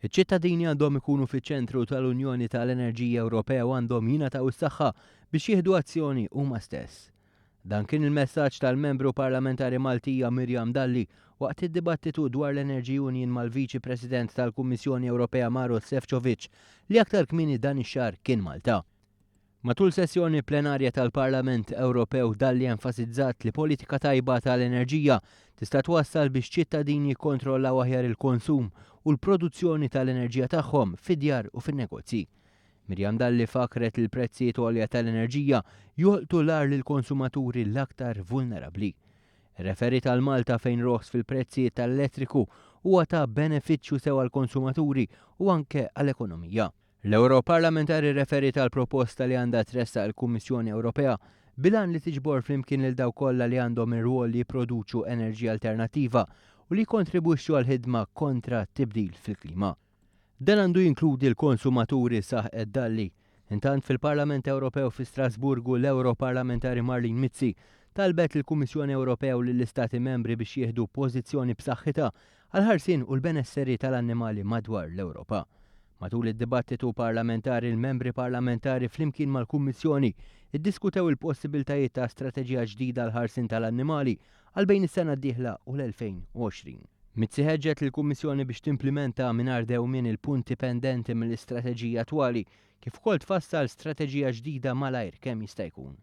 Iċ-ċittadini għandhom ikunu fiċ-ċentru tal-Unjoni tal-Enerġija Ewropea u għandhom jingħataw is-saħħa biex jieħdu azzjoni huma stess. Dan kien il-messaġġ tal-Membru Parlamentari Maltija Miriam Dalli waqt id-dibattitu dwar l-Energy Union mal-Viċi President tal-Kummissjoni Ewropea Maros Sefcovic li aktar kmieni dan ix-xahar kien Malta. Matul sessjoni plenarja tal-Parlament Ewropew Dalli enfasizzat li politika tajba tal-enerġija tista' twassal biex ċittadini jikkontrollaw aħjar il-konsum u l-produzzjoni tal-enerġija tagħhom fid-djar u fin-negozji. Miriam Dalli fakkret li l-prezzijiet għolja tal-enerġija jolqtu l-agħar lill-konsumaturi l-aktar vulnerabbli. Irreferiet għal Malta fejn roħs fil-prezzijiet tal-elettriku huwa ta' benefiċċju sew għall-konsumaturi u anke għall-ekonomija. L-Ewroparlamentari rreferiet għal proposta li għandha tressaq il-Kummissjoni Ewropea bil-għan li tiġbor flimkien lil dawk kollha li għandhom ir-rwol li jipproduċu enerġija alternattiva u li jikkontribwixxu għall-ħidma kontra t-tibdil fil-klima. Dan għandu jinkludi l-konsumaturi, saħqet Dalli. Intant, fil-Parlament Ewropew fi Strasburgu, l-Ewroparlamentari Marlene Mizzi talbet lill-Kummissjoni Ewropea u lill-Istati Membri biex jieħdu pożizzjoni b'saħħitha għall-ħarsien u l-benesseri tal-annimali madwar l-Ewropa. Matul id-dibattitu parlamentari l-membri parlamentari flimkien mal-Kummissjoni iddiskutew il-possibiltajiet ta' strateġija ġdida għall-ħarsien tal-annimali għal bejn is-sena d-dieħla u l-2020. Mizzi ħeġġet lill-Kummissjoni biex timplimenta mingħajr dewmien il-punti pendenti mill-istrateġija attwali kif ukoll tfassal strateġija ġdida malajr kemm jista' jkun.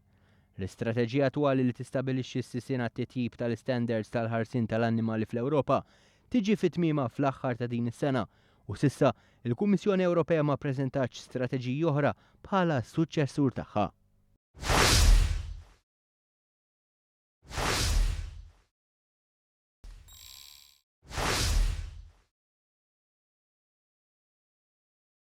L-istrateġija attwali li tistabilixxi s-sisien għat-titjib tal-istandards tal-ħarsien tal-annimali fl-Ewropa tiġi fi tmiemha fl-aħħar ta' din is-sena u s'issa l-Kummissjoni Ewropea ma ppreżentatx strateġiji oħra bħala s-suċċessur tagħha.